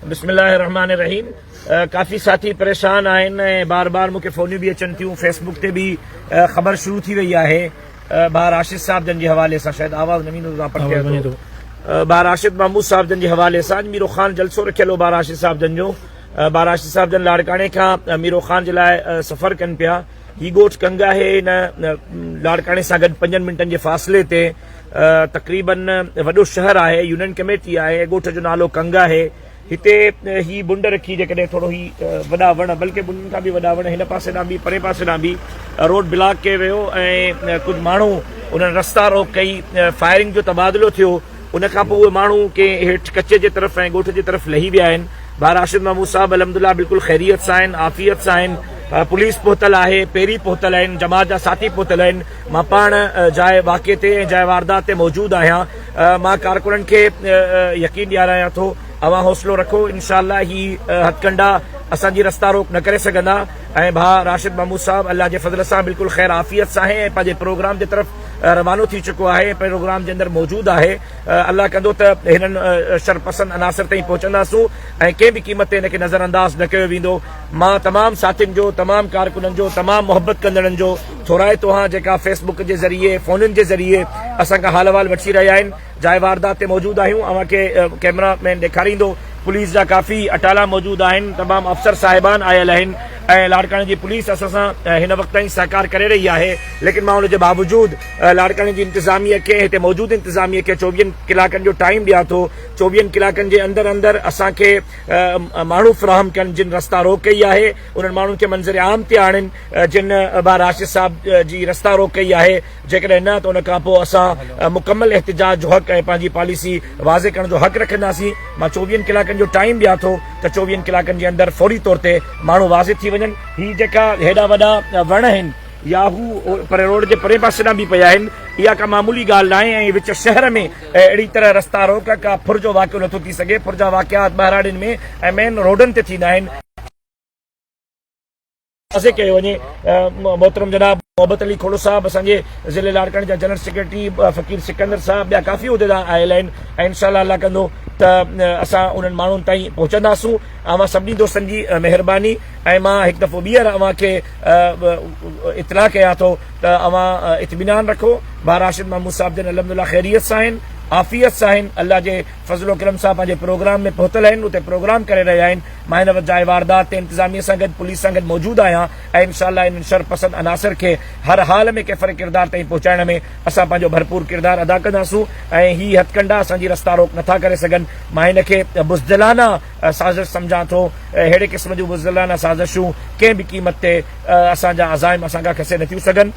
بسم الله الرحمٰن الرحيم ڪافي ساٿي پريشان آهن ۽ بار بار مونکي فونيون به اچن ٿيون فيس بڪ تي به خبر شروع ٿي وئي آهي ڀا راشد صاحب جن جي حوالي سان شايد آواز نه ويندو پڻ ٿئي ٿو ڀا راشد محمود صاحب جن جي حوالي سان ميرو خان جلسو رکيل هو ڀا راشد صاحب جن جو ڀا راشد صاحب جن لاڙڪاڻي کان ميرو خان جي لاء سفر ڪن پيا هي ڳوٺ ڪنگ آهي هن لاڙڪاڻي سان گڏ پنجن منٽن جي فاصلي تي تقريبن وڏو شهر آهي يونين ڪميٽي آهي ڳوٺ جو نالو ڪنگ آهي هتي هي بنڊ رکي جيڪڏهن ٿورو هي وڏا وڻ بلڪه بنڊن کان به وڏا وڻ هن پاسي ڏانهن به پري پاسي ڏانهن به روڊ بلاڪ ڪيو ويو ۽ ڪجهه ماڻهو انهن رستا روڪ ڪئي فائرنگ جو تبادلو ٿيو ان کان پوء اهي ماڻهو ڪي هيٺ ڪچي جي طرف ۽ ڳوٺ جي طرف لهي ويا آهن بار راشد محمود صاحب الحمد لله بلڪل خيريت سان آهن عافيت سان آهن پوليس پهتل آهي پهري پهتل آهن جماعت جا ساٿي پهتل آهن مان پاڻ جاء واقعي تي ۽ جاء واردات تي موجود آهيان، مان ڪارڪنن کي يقين ڏيارايان ٿو اوهان حوصلو رکو انشاء الله هي هٿڪنڊا اسان جي رستا روڪ نه ڪري سگهندا ۽ ڀاء راشد محمود صاحب الله جي فضل سان بلڪل خير عافيت سان آهي ۽ پنهنجي پروگرام جي طرف روانو ٿي چڪو آهي ۽ پروگرام جي اندر موجود آهي الله ڪندو ته هنن شرپسند عناصر تائين پهچنداسون ۽ ڪنهن به قيمت تي هن کي نظرانداز نه ڪيو ويندو مان تمام ساٿين جو تمام ڪارڪنن جو تمام محبت ڪندڙن جو ٿورائي توهان جيڪا فيس بڪ جي ذريعي فونن جي ذريعي اسان کان حال احوال وٺي رهيا آهن جاء واردات تي موجود آهيون اوهان کي ڪيمرا مين ڏيکاريندو پوليس جا ڪافي اٽالا موجود آهن تمام افسر صاحبان آيل آهن ۽ لاڙڪاڻي جي پوليس اسان سان هن وقت تائين سهڪار ڪري رهي آهي ليڪن مان ان جي باوجود لاڙڪاڻي جي انتظاميه کي هتي موجود انتظاميه کي چوويهن ڪلاڪن جو ٽائيم ڏيان ٿو چوويهن ڪلاڪن جي اندر اندر اسان کي ماڻهو فراهم ڪن جن رستا روڪ ڪئي آهي انهن ماڻهن کي منظر عام تي آڻن جن ڀا راشد صاحب جي رستا روڪ ڪئي آهي جيڪڏهن نه ته ان کان پوء اسان مڪمل احتجاج جو حق ۽ پنهنجي پاليسي واضح ڪرڻ جو حق رکنداسين مان چوويهن ڪلاڪن جو ٽائيم ڏيان ٿو ته چوويهن ڪلاڪن جي اندر فوري طور تي ماڻهو واضح ٿي وڃن هي جيڪا هيڏا وڏا وڻ آهن يا هو پري روڊ جي پرين پاسي ڏانهن به پيا آهن اها ڪا معمولي ڳالهه ناهي ۽ وچ شهر ۾ اهڙي طرح رستا روڪ ڪا ڦر جو واقعو نٿو ٿي سگهي ڦر جا واقعات ٻهراڙين ۾ ۽ مين روڊن تي ٿيندا آهن واضح ڪيو وڃي محترم جناب محبت علي کهڙو صاحب اسان جي ضلعي لاڙڪاڻي جا جنرل سيڪريٽري فقير سڪندر صاحب ٻيا ڪافي عهديدار آيل آهن ۽ انشاء الله الله ڪندو ته اسان انهن ماڻهن تائين پهچنداسون اوهان سڀني دوستن جي مهرباني ۽ مان هڪ دفعو ٻيهر اوهان کي اطلاع ڪيان ٿو ته اوهان اطمينان رکو ڀا راشد محمود صاحب جن الحمد لله خيريت سان آهن عافيت سان آهن الله جي فضل و ڪرم صاحب پنهنجي پروگرام ۾ پهتل آهن، اتي پروگرام ڪري رهيا آهن، مان هن وجاهه واردات تي انتظاميه سان گڏ پوليس سان گڏ موجود آهيان ۽ انشاء الله انهن شر پسند عناصر کي هر حال ۾ ڪيفر ڪردار تائين پهچائڻ ۾ اسان پنهنجو ڀرپور ڪردار ادا ڪنداسون ۽ هي هٿڪنڊا اسان جي رستا روڪ نٿا ڪري سگهن، مان هن کي بزدلانه سازش سمجهان ٿو، اهڙي قسم جون بزدلانه سازشون ڪنهن به قيمت تي اسان جا عزائم اسان کان کسي نٿيون سگهن،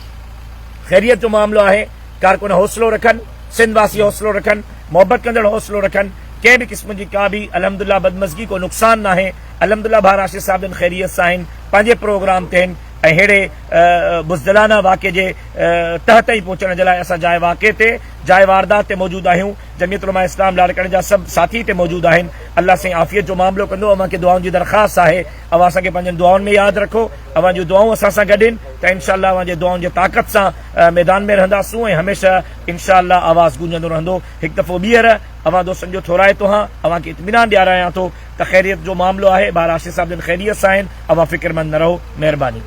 خيريت جو معاملو آهي. ڪارڪن حوصلو رکن، سنڌ واسي حوصلو رکن، محبت ڪندڙ حوصلو رکن، ڪنهن به قسم جي ڪا به الحمدالله بدمزگي ڪو نقصان ناهي، الحمدالله ڀا راشد صاحب جن خيريت سان آهن، پنهنجي پروگرام تي آهن ۽ ههڙي بزدلانه واقعي جي تهه تائين پهچڻ جي لاء اسان جاء واقعي تي، جاء واردات تي موجود آهيون، جميعت علماء اسلام لاڙڪاڻي جا سڀ ساٿي هتي موجود آهن، الله سائين عافيت جو معاملو ڪندو، اوهان کي دعائن جي درخواست آهي، اوهان اسان کي پنهنجن دعائن ۾ ياد رکو، اوهان جون دعائون اسان سان گڏ آهن ته انشاءالله اوهان جي دعائن جي طاقت سان. ميدان ۾ رهنداسون ۽ هميشه انشاء الله آواز گونجندو رهندو. هڪ دفعو ٻيهر اوهان دوستن جو ٿورائتو هان اوهان کي اطمينان ڏيارايان ٿو ته خيريت جو معاملو آهي، ٻار آشي صاحب جن خيريت سان آهن، اوهان فڪرمند نه رهو. مهرباني.